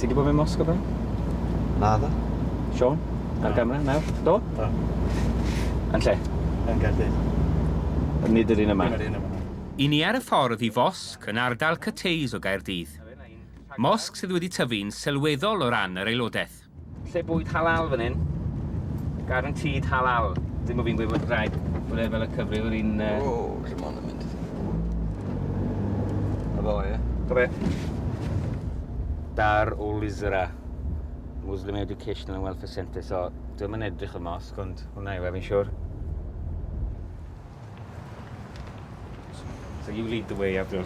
Ti wedi bod mewn mosg o blaen? Na dda. Sean, ar gamera, nawr, do? Do. Yn lle? Yn Gaerdydd. Nid yr un yma? Dim yr un yma. I ni ar y ffordd i fosg yn ardal Cathays o Gaerdydd. Mosg sydd wedi tyfu'n sylweddol o ran yr aelodaeth. Lle bwyd halal fan hyn. Guaranteed halal. Dim o fi'n gweud bod rhaid bod e fel y cyfryw yr un... Uh... O, lle ma'n mynd? A fo, ie? Correct. Dar o Lizra. Muslim Educational and Welfare Centre. So, dwi'n mynd edrych y mosg, ond hwnna yw efo'n siwr. So you lead the way, Abdul.